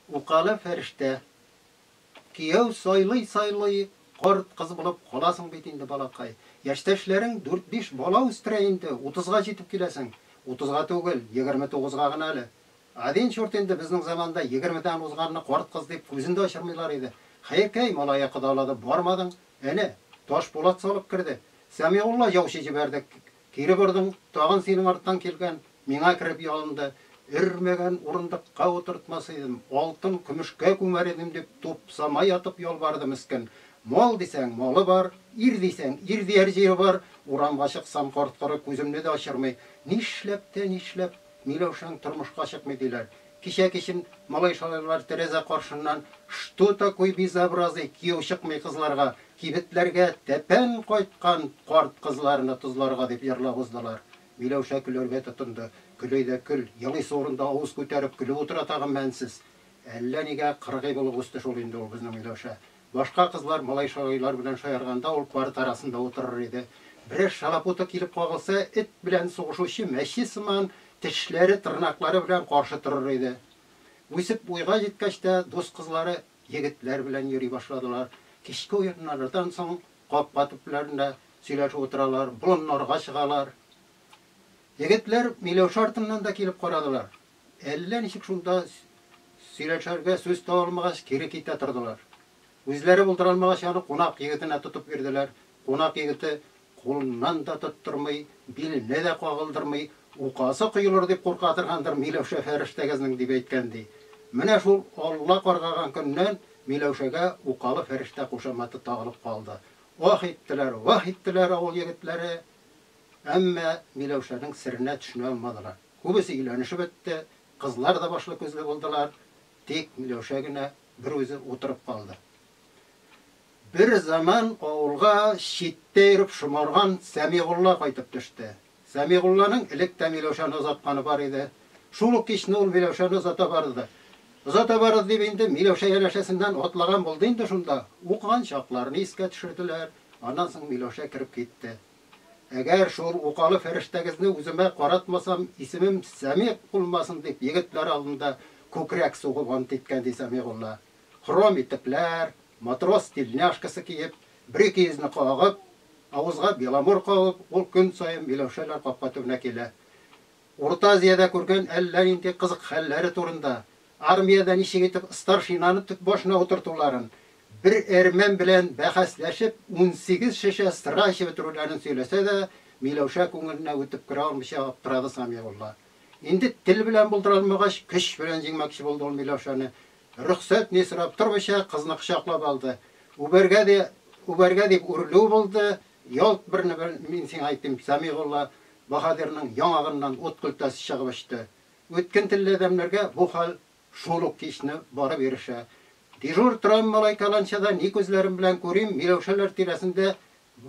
Укалы фәрештә. Кияү сайлый-сайлый карт кыз булып каласың бит инде, балакай. Яшьтәшләрең дүрт-биш бала үстерә инде, утызга җитеп киләсең. Утызга түгел, егерме тугызга гына әле. Адин чурт инде, безнең заманда егермедән узганны карт кыз дип күзен дә ачырмыйлар иде. Хәеркәй, малае кодалады, бармадың. Әнә, Ташбулат салып керде. Сәмигулла яучы җибәрдек, Кире бордым, тагын синең арттан килгән, миңа кереп ялынды. Өрмәгән урындыкка утыртмас идем, алтын, көмешкә күмәр идем, дип тупсама ятып ялварды мескен. Мал дисәң, малы бар, ир дисәң, ир дияр җире бар, урамга чыксам, корт-коры күземне дә ачырмый. Нишләп тә нишләп? Миләүшәң тормышка чыкмый, диләр. Кичә-кичен малай-шалайлар тәрәзә каршыннан Что такой безобразый, кияү чыкмый кызларга, кибетләргә тәпән кайткан карт кызларны тозларга, дип җырлап уздылар. Миләүшә көләргә тотынды. Көләй дә көл, елыйсы урында авыз күтәреп көлеп утыра тагын мәнсез. Әллә нигә кыргый булып үсте шул инде ул безнең Миләүшә. Башка кызлар малай-шагыйлар белән шаярганда ул парта арасында утырыр иде. Берәр шалапуты килеп кагылса, эт белән сугышучы мәче сыман тешләре, тырнаклары белән каршы торыр иде. Үсеп уйга җиткәч тә, дус кызлары егетләр белән йөри башладылар. Кичке уеннардан соң капка төпләрендә сөйләшеп утыралар, болыннарга чыгалар. Егетләр Миләүшә артыннан да килеп карадылар. Әллә ничек шунда сөйләшергә сүз таба алмагач, кире китә тордылар. Үзләре булдыра алмагач, аны кунак егетенә тотып бирделәр. Кунак егете кулыннан да тоттырмый, биленә дә кагылдырмый, Указы коелыр дип курка торгандыр Миләүшә фәрештәгезнең, дип әйткән, ди. Менә шул Алла каргаган көннән Миләүшәгә Укалы фәрештә кушаматы тагылып калды. Ах иттеләр, ваһ иттеләр авыл егетләре, әмма Миләүшәнең серенә төшенә алмадылар. Күбесе өйләнешеп бетте, кызлар да башлы-күзле булдылар, тик Миләүшә генә бер үзе утырып калды. Бер заман авылга читтә йөреп шомарган Сәмигулла кайтып төште. Сәмигулланың элек тә Миләүшәне озатканы бар иде. Шул ук кичне ул Миләүшәне озата барды. Озата барыр дип инде Миләүшә янәшәсеннән атлаган булды инде, шунда укыган чакларны искә төшерделәр, аннан соң Миләүшә кереп китте. Әгәр шул укалы фәрештәгезне үземә каратмасам, исемем Сәмигъ булмасын, дип, егетләр алдында күкрәк сугып ант иткән, ди Сәмигулла. Хром итекләр, матрос тельняшкасы киеп, бер икейөзне кагып, авызга беломор кагып, ул көн саен Миләүшәләр капка төбенә килә. Урта Азиядә күргән әллә нинди кызык хәлләре турында, армиядә ничек итеп старшинаны төп башына утыртуларын, бер әрмән белән бәхәсләшеп, унсигез шешә сыра эчеп бетерүләрен сөйләсә дә, Миләүшә күңеленә үтеп керә алмыйча аптырады Сәмигулла. Инде тел белән булдыра алмагач, көч белән җиңмәкче булды ул Миләүшәне. Рөхсәт ни сорап тормыйча, кызны кочаклап алды. Үбәргә дә үбәргә дип үрлү булды. Ялт берне-бер мин сиңа әйтим, Сәмигулла баһадирның яңагыннан ут көлтәсе чыгып очты. Үткен телле адәмнәргә бу хәл шул ук кичне барып ирешә. Дежур торам малай каланчада ни күзләрем белән күрим, Миләүшәләр тирәсендә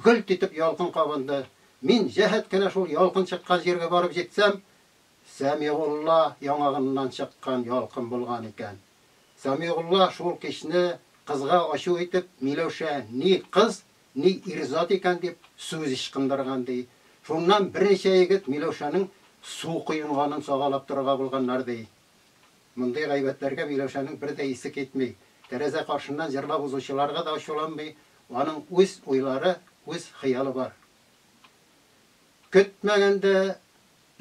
гөлт итеп ялкын кабынды. Мин җәһәт кенә шул ялкын чыккан җиргә барып җитсәм, Сәмигулла яңагыннан чыккан ялкын булган икән. Сәмигулла шул кичне кызга ачу итеп, Миләүшә ни кыз, Ни ир-зат икән дип, сүз ычкындырган, ди. Шуннан берничә егет Миләүшәнең су коенганын сагалап торырга булганнар, ди. Мондый гайбәтләргә Миләүшәнең бер дә исе китми. Тәрәзә каршыннан җырлап узучыларга да ачуланмый, аның үз уйлары, үз хыялы бар. Көтмәгәндә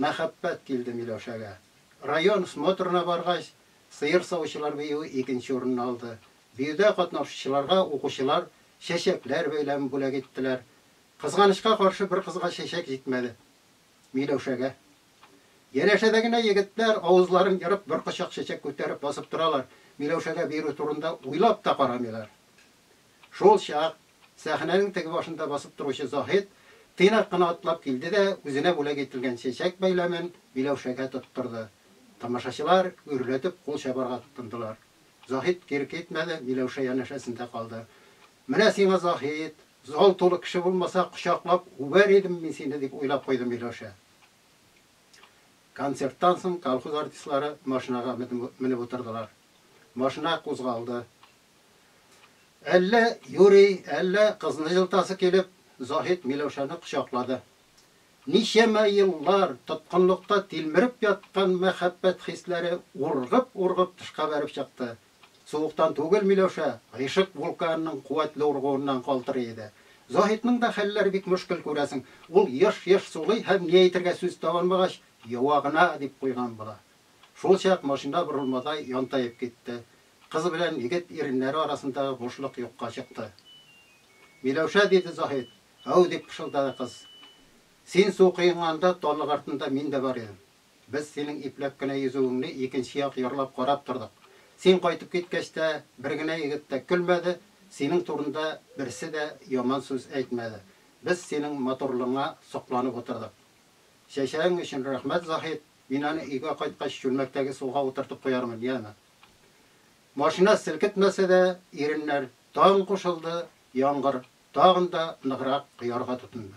мәхәббәт килде Миләүшәгә. Район смотрына баргач, сыер савучылар биюе икенче урынны алды. Биюдә катнашучыларга укучылар чәчәкләр бәйләмен бүләк иттеләр. Кызганычка каршы, бер кызга чәчәк җитмәде. Миләүшәгә. Янәшәдә генә егетләр, авызларын ерып, бер кочак чәчәк күтәреп басып торалар, Миләүшәгә бирү турында уйлап та карамыйлар. Шул чак сәхнәнең теге башында басып торучы Заһит тыйнак кына атлап килде дә үзенә бүләк ителгән чәчәк бәйләмен Миләүшәгә тоттырды. Тамашачылар гөрләтеп кул чабарга тотындылар. Заһит кире китмәде, Миләүшә янәшәсендә калды. Менә сиңа, Заһит! Зал тулы кеше булмаса, кочаклап үбәр идем мин сине, дип уйлап куйды Миләүшә. Концерттан соң колхоз артистлары машинага менеп утырдылар. Машина кузгалды. Әллә юри, әллә кызны җылытасы килеп, Заһит Миләүшәне кочаклады. Ничәмә еллар тоткынлыкта тилмереп яткан мәхәббәт хисләре ургып-ургып тышка бәреп чыкты. Суыктан түгел Миләүшә, гыйшык вулканының куәтле ургуыннан калтырый иде. Заһитның да хәлләре бик мөшкел, күрәсең, ул еш-еш сулый һәм ни әйтергә сүз таба алмагач, юагына дип куйган була. Шулчак машина борылмадай янтаеп китте. Кыз белән егет иреннәре арасындагы бушлык юкка чыкты. Миләүшә, диде Заһит, Әү, дип пышылдады кыз. Син су коенганда, таллык артында мин дә бар идем. Без синең ипләп кенә йөзүеңне икенче як ярлап карап тордык. Син кайтып киткәч тә, бер генә егет тә көлмәде, синең турында берсе дә яман сүз әйтмәде. Без синең матурлыгыңа сокланып утырдык. Чәчәгең өчен рәхмәт, Заһит. Мин аны өйгә кайткач чүлмәктәге суга утыртып куярмын, яме. Машина селкетмәсә дә, иреннәр, Таң кушылды, яңгыр, тагын да ныграк коярга тотынды.